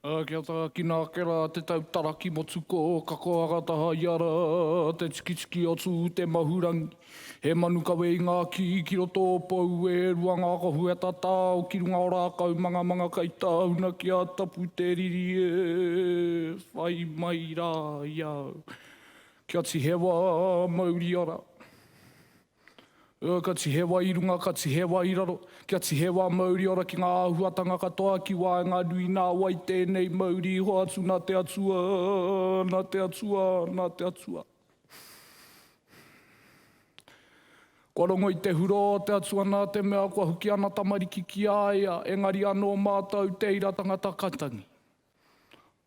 Ā, kia tākina ake rā te tautaraki motukō, ka koanga taha ia rā te tikitiki o Tū te Mahurangi. He manu kawe i ngā kī ki roto o Pou, e rua ngā kohu e tatao ki runga o rākau mangamanga kei tāuna ki a Tapu te riri e whai mai rā i a au. Kia tihewa mauria rā. Ka tihe wai i runga, ka tihe wai i raro, kia tihe wā mauri ora ki ngā āhuatanga katoa ki waenga nui nā wai tēnei mauri iho atu nā te Atua, nā te Atua, nā te Atua. Kua rongo i te hurō o te Atua nā te mea kua huki ana tamariki ki a ia, engari anō mātou tēira tangata kaitangi.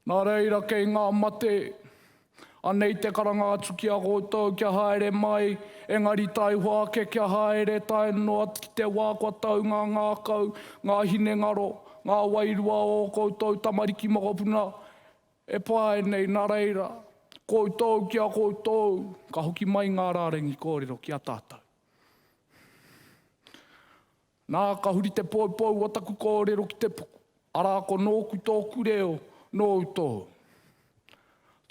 Nā reira kei ngā mate, anei te karanga atu ki a koutou kia haere mai, engari taihoa ake kia haere tae noa ki te wā kua tau ngā ngākau, ngā hinengaro, ngā wairua o ō koutou tamariki mokopuna e pae nei, nā reira, koutou ki a koutou, ka hoki mai ngā rārangi kōrero ki a tātou. Nā, ka huri te poupou o taku kōrero ki te puku, arā ko nōku tōku reo, nōu tōu.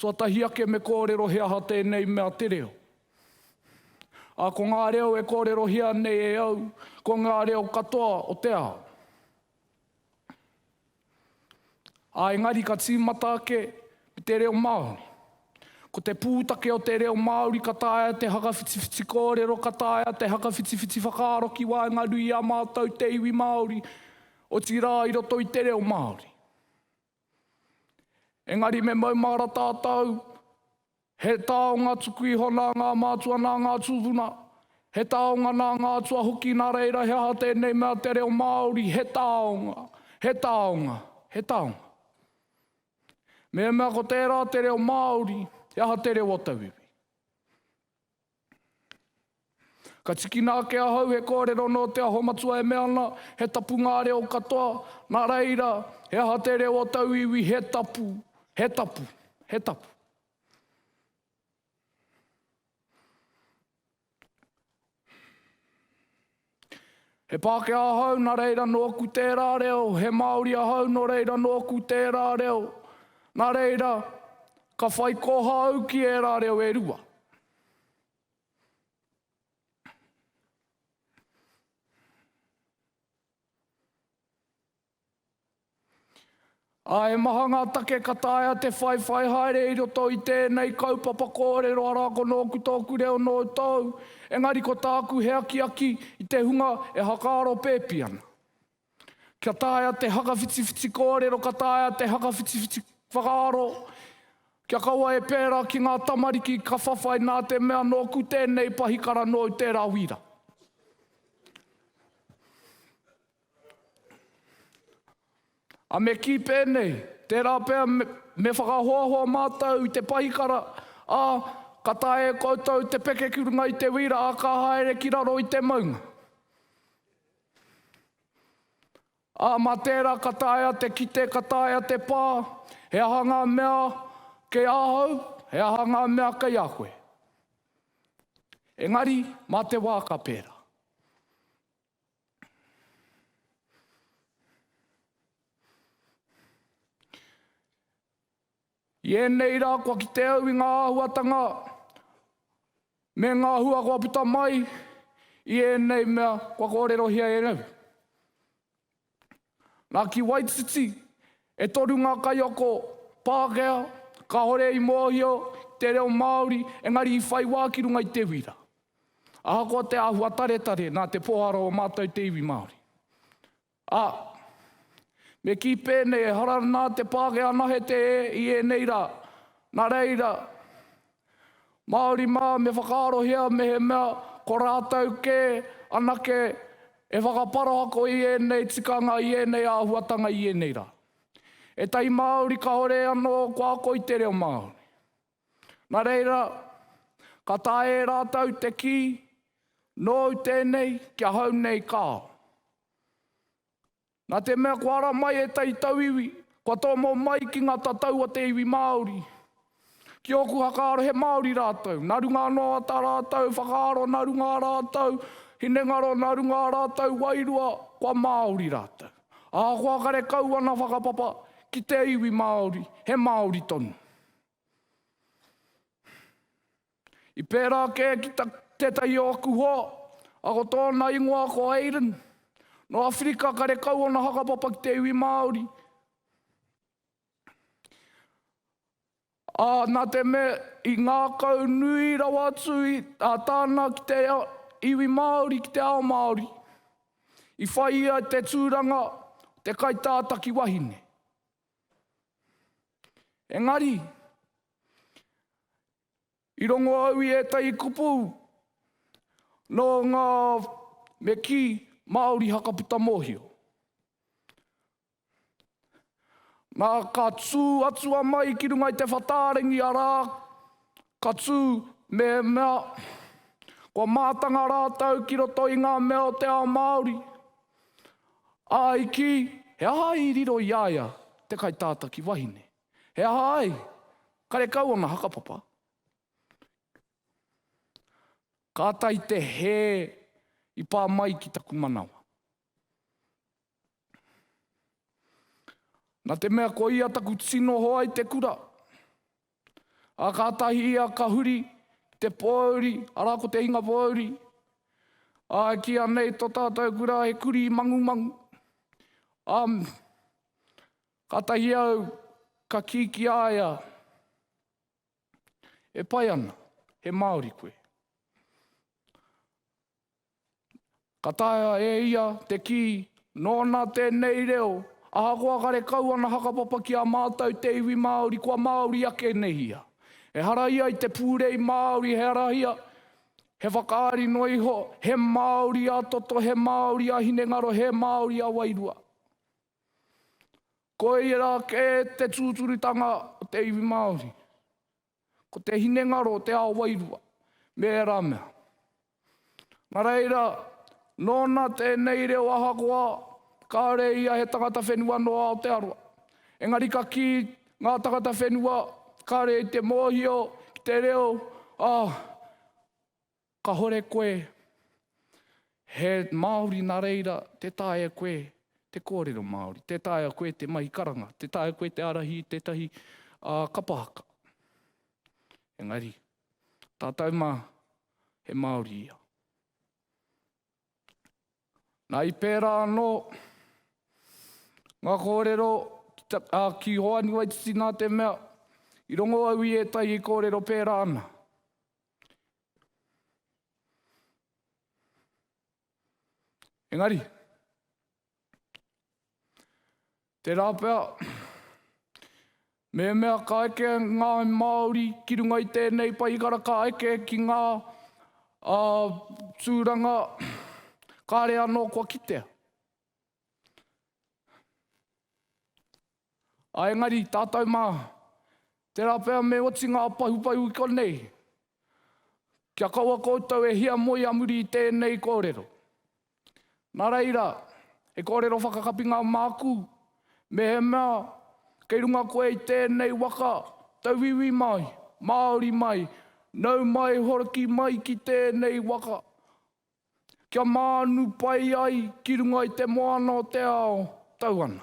Tuatahi ake me kōrero he aha tēnei mea te reo. Ā, ko ngā reo e kōrerohia nei e au, ko ngā reo katoa o te ao. Ā, engari ka tīmata ake me te reo Māori. Ko te pūtake o te reo Māori ka taea te whakawhitiwhiti kōrero, ka taea te whakawhitiwhiti whakaaro ki waenganui i a mātou te iwi Māori, otirā i roto i te reo Māori. Engari me maumahara tātou, he taonga tuku iho nā ngā mātua, nā ngā tūpuna, he taonga nā ngā atua hoki nā reira he aha tēnei mea te reo Māori, he taonga, he taonga, he taonga. Mehemea ko tērā te reo Māori, he aha te reo o tauiwi? Ka tikina ake ahau he kōrero nō Te Aho Matua e mea ana, he tapu ngā reo katoa, nā reira, he aha te reo o tau iwi, he tapu, he tapu, he tapu. He Pākehā ahau nā reira nōku tērā reo, he Māori ahau nō reira nōku tērā reo. Nā reira, ka whai koha au ki ērā reo e rua. Ā, he maha ngā take ka taea te whaiwhai haere i roto i tēnei kaupapa kōrero arā ko nōku tōku reo nō tōu, engari ko tāku he akiaki i te hunga e whakaaro pēpi ana. Kia taea te whakawhitiwhiti kōrero ka taea te whakawhitiwhiti whakaaro, kia kaua e pērā ki ngā tamariki ka whawhai nā te mea nōku tēnei pahikara nōu tērā wīra. A me kī pēnei, Tērā pea me whakahoahoa mātou i te pahikara, ā, ka taea e koutou te peke ki runga i te wīra ā ka haere ki raro i te maunga. Ā, mā tērā ka taea te kite, ka taea te pā, he aha ngā mea kei ahau, he aha ngā mea kei a koe. Engari, mā te wā ka pērā. I ēnei rā kua kite au i ngā āhuatanga me ngā hua kua puta mai i ēnei mea kua kōrerohia e au. Nā, ki Waititi, e toru ngā kaiako Pākehā, kāore i mōhio ki te reo Māori, engari i whai wā ki runga i te wira. Ahakoa te āhua taretare, nā te pōhara o mātou te iwi Māori. Ā, me kī pēnei, ehara nā te Pākehā nahe te e i ēnei rā, nā reira, Māori mā me whakaarohia mehemea ko rātou kē anake e whakaparahako i ēnei tikanga, i ēnei āhuatanga i ēnei rā. Ētahi Māori kāore anō kua ako i te reo Māori. Nā reira, ka taea e rātou te kī, Nōu tēnei, ki ahau nei kāo. Nā te mea kua ara mai ētahi tauiwi, kua tōmou mai ki ngā tatau o te iwi Māori. Ki ōku whakaaro he Māori rātou, nā runga anō a tā rātou whakaaro, nā runga ā rātou hinengaro, nā runga ā rātou wairua, kua Māori rātou. Ahakoa kare kau ana whakapapa ki te iwi Māori, he Māori tonu. I pērā kē ki tētahi o aku hoa, a ko tōna ingoa ko Aidan. Nō Awherika karekau ōna whakapapa ki te iwi Māori. Ā, nā te mea i ngākau nui rawa atu a Tana ki te iwi Māori, ki te ao Māori, i whai ia i te tūranga o te kaitātaki wahine. Engari, I rongo au i ētahi kupu nō ngā me kī Māori hakaputa mōhio. Nā, ka tū atu a Mai ki runga i te whatārengi, arā, ka tū me mea kua mātanga rātou ki roto i ngā mea o te ao Māori, ā, i kī he aha i riro i a ia te kaitātaki wahine. He aha ai? Karekau ana hakapapa. Ka ata i te hē i pā mai ki taku manawa. Na te mea ko ia taku tino hoa i te kura. A ka tahi ia ka huri ki te pōuri, arā ko te hinga pōuri. A ki anei to tātou kura he kuri mangumangu. A Kātahi au ka kī ki a ia, E pai ana, he Māori koe. Ka taea e ia te kī, Nōna tēnei reo, ahakoa karekau ana hakapapa ki a mātou te iwi Māori, kua Māori ake nei ia. Ehara ia i te pūrei Māori, he arahia, he whakaari noa iho, he Māori-a-toto, he Māori-a-hinengaro, he Māori-a-wairua. Koia rā kē te tūturutanga o te iwi Māori. Ko te hinengaro o te ao wairua me ērā mea. Nā reira, nōna tēnei reo ahakoa kāore ia he tangata whenua nō Aotearoa. Engari ka kī ngā tangata whenua kāore i te mōhio ki te reo a Kahore koe he Māori na reira te taea koe te kōrero Māori, te taea koe te mahi karanga, te taea koe te arahi i tētahi kapa haka. Engari, tātou ma he Māori ia. Na i pērā anō ngā kōrero ki Hoani Waititi nā te mea, i rongo au i ētahi kōrero pērā ana. Engari, Tērā pea, mehemea ka eke ngā Māori ki runga i tēnei paihikara, ka eke ki ngā tūranga, kāre anō kua kitea. Ā, engari tātou mā, tērā pea me oti ngā pahupahu i konei, kia kaua koutou e hiamoi a muri i tēnei kōrero. Nā reira, he kōrero whakakapinga māku, mehemea kei runga koe i tēnei waka, tauiwi mai, Māori mai, nau mai hoki mai ki tēnei waka, kia mānu pai ai ki runga i te moana o te ao, tau ana.